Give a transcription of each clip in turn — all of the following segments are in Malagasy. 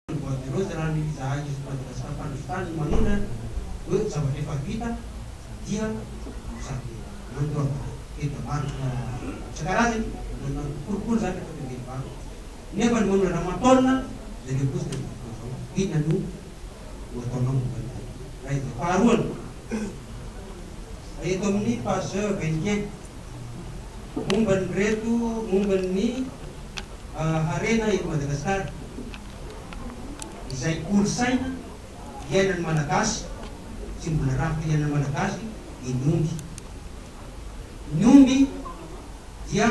Ny bois de rose raha ny fizahana eto Madagasikara mpandrovitrany no manondra hoe zavatra efa vita dia sady nandoroana tena marina isan-karazany na nanao kolikoly izany rehefa teo Benivato nefa ny mamola anao an-taonina dia ilay bois de rose izao inona no ho ataonao momba ny bois de rose izay. Faharoany, eto amin'ny page vingt et un. momba ny reto momba ny harena eto Madagasikara izay kolontsaina iainan'ny Malagasy sy mbola rafitra iainan'ny Malagasy dia ny omby. Ny omby dia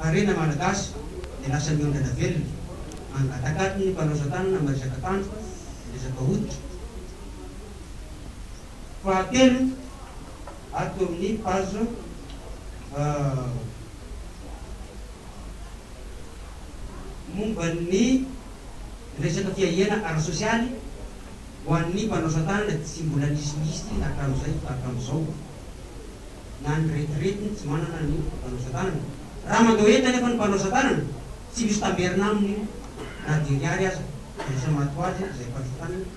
harena Malagasy dia lasa miondrana velona angatakatin'ny mpanaosan-tanana miresaka tanjona, miresaka hoditra. Fahatelo, ato amin'ny page momba ny resaka fiahiana ara-sosialy ho an'ny mpanaosa tanana, tsy mbola nisy listy hatramin'izay ka hatramin'izao na ny retirety no tsy manana ny mpanaosa tanana. Raha mandao entana efa ny mpanaosa tanana, tsy misy tamberina aminy io na dia ny ary aza, dia lasa maty ho azy izay mpanosa tanana.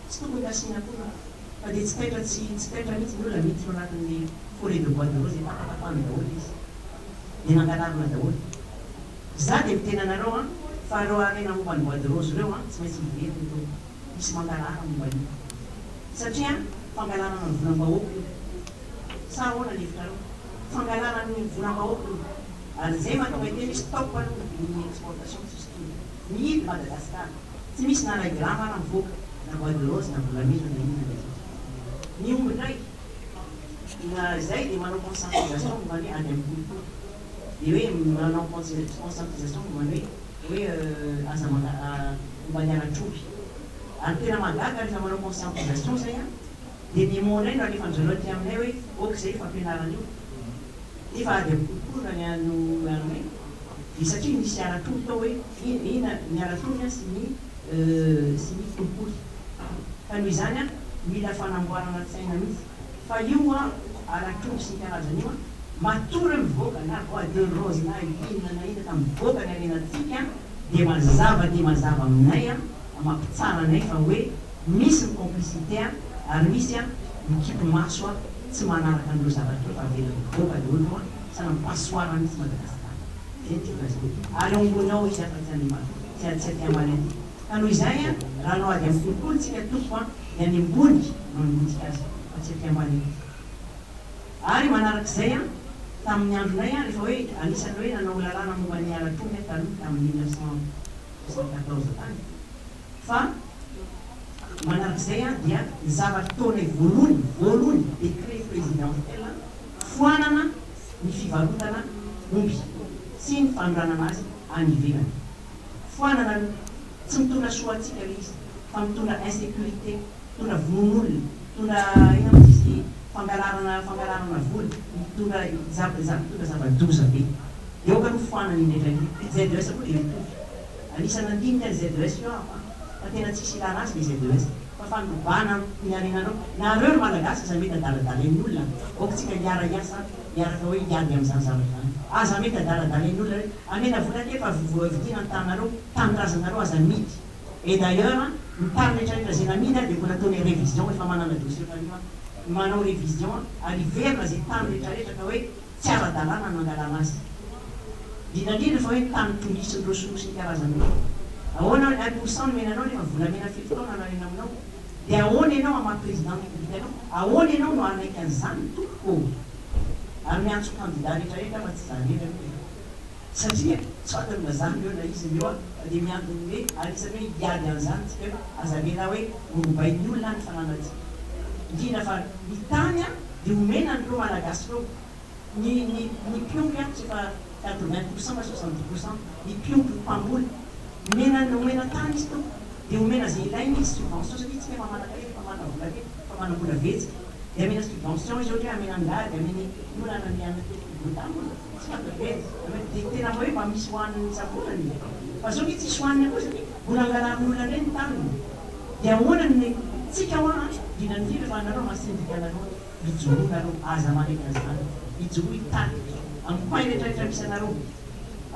Tsy tokony hasiana akoho ra. Fa dia tsy taitra tsy tsy taitra mihitsy ny olona miditra ao anatin'le foret de bois de rose dia tapatapahany daholo izy. Dia nangalarina daholo. Za dia miteny anareo an, fa reo harena momba ny bois de rose reo an, tsy maintsy hiverina eto. Misy mangalara momba an'io. Satria an, fangalarana ny volam-bahoaka io. Sa ahoana ny hevitrareo? Fangalarana ny volam-bahoaka io. Ary izay mahatonga iteny hoe stop aloha ny exportation tsisy tody. Mihidy Madagascar. Tsy misy na iray grama ara mivoaka na bois de rose na volamena na inona na inona. Ny omby indray na izay dia manao conscientisation momba ny ady amin'ny kolikoly. Dia hoe manao conscientisation momba ny hoe hoe aza momba ny halatr'omby. Ary ny tena mahagaga rehefa manao conscientisation izay dia ny mot indray no alefan'i zareo aty aminay hoe ok izay efa ampianaran'io. Nefa ady amin'ny kolikoly raha ny an'ny Orange dia satria misy ara-tory tao hoe ina ny ara-tory an sy ny sy ny kolikoly. Ka noho izany an, mila fanamboarana tsaina mihitsy. Fa io an, ara-tory sy ny karazany io an, matory mivoaka na bois de rose na inona na inona ka mivoaka ny harenantsika an, dia mazava dia mazava aminay an, Mba mampitsara anay fa hoe misy ny complicité a! ary misy a! mikipy maso a! tsy manaraka an'ireo zavatra efa avela mivoaka le olo a! sa na passoire mitsy Madagascar! zay no tiako lazaina ary eo ambony ao izy afa tsy animal tsy a tsy aty aman'aty ka noho izay a! raha anao ady amin'ny kolikoly tsika tompoko a! ny any ambony no anonontsika azy fa tsy aty ambany aty ary manarak'izay a! tamin'ny andronay a! rehefa hoe anisany hoe nanao lalàna momba ny halatr'omby a! taloha tamin'ny mille neuf cent Izao natao izao tany fa manark'izay dia ny zavatra ataonay voalohany voalohany décret présidentiel foanana ny fivarotana omby sy ny fanondranana azy any ivelany. Foanana aloha. Tsy mitondra soa antsika ilay izy fa mitondra insécurité. Mitondra vononolona, mitondra inona moa izy ity, fangalarana fangalarana vola, mitondra zava za mitondra zava-doza be. Eo ka no foanany indrindra io. Ny ZES koa dia mitovy. Anisan'ny nandinika ny ZES io aho an. Fa tena tsisy ilana azy ilay ZES. Fa fanodrobana ny harenanao. Nareo ry Malagasy aza mety adaladalain'ny olona an. Aoka tsika hiara hiasa an. Miaraka hoe hiady amin'izany zavatra izany. Aza mety adaladalain'ny olona hoe amena vola aty fa voavidiana ny tananareo, tanindrazanareo aza amidy. Et d'ailleurs an, ny part retraretra zay namidy an dia mbola ataony révision efa manana dossier fanio an, manao révision an, ary hiverina zay tany retraretra ka hoe tsy ara-dalàna ny nangalana azy. Indrindra indrindra fa hoe tany tolitry ny ressources ny karazany hoe ahoana hoe un pour cent nomena anao nefa volamena firy taona nariana aminao dia ahoana ianao hamaha président ny république anao? Ahoana ianao no hanaiky an'izany tompoko ô? Ary miantso candidat retraretra fa tsy za irery aloha e. Satria tsy fantanina zany reo na izy reo fa de miandry ny hoe anisany hoe hiady anzany tsika hoe aza avela hoe horobain'ny olona any fananantsika indrindra fa ny tany a de omena an'reo malagasy reo ny ny ny mpiompy a tsy efa quatre vingt pour cent na soixante dix pour cent ny mpiompy ny mpamboly omena omena tany izy to de omena ze ilainy izy subvention satria tsika efa manaka hery efa manana vola be efa manana vola vetsika de amena subvention izy ohatra hoe amena angady amena ny olana ny any anaty ety Botany Tsy mandevendy angamba dia tena hoe mba misy hohaniny isabolana e! Fa zao nge tsisy hohanina koa satria mbola angalariny olona ndray ny taniny! Dia ahoana ny tsika hoa an! Indrindra indrindra fa anareo ma sendika anareo ijoroa nareo aza manaiky anzany! Ijoroa hitarika am coin rehetra rehetra misy anareo!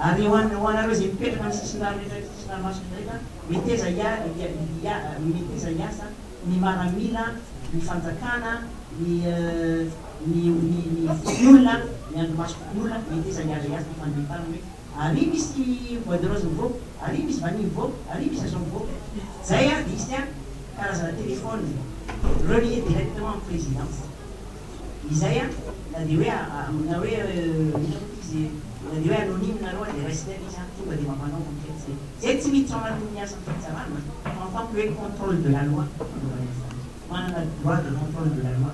Ary ho an ho anareo izay mipetraka am sisindrano rehetra rehetra sisin'ny ranomasina indray ka meteza hia hia hia meteza hiasa ny maramila ny fanjakana ny ny ny fo olona, ny andrimaso fo olona, mety iza hiazo hiazo ny fandrehetana hoe aria misy bois de rose mivoaka, aria misy vanille mivoaka, aria misy azon mivoaka. Zay ary diso dia karazana telephone relier directement amin'ny présidence. Izay an, na dia hoe na hoe inona moa ty izy e, na dia hoe anonyme nareo ary dia raisina eo le izy an, tonga dia mba manao enquête zay. Zay tsy miditra ao anatin'ny ny asan'ny fitsarana fa mifampi hoe contrôle de la loi fanaovana izany. Manana droit de contrôle de la loi.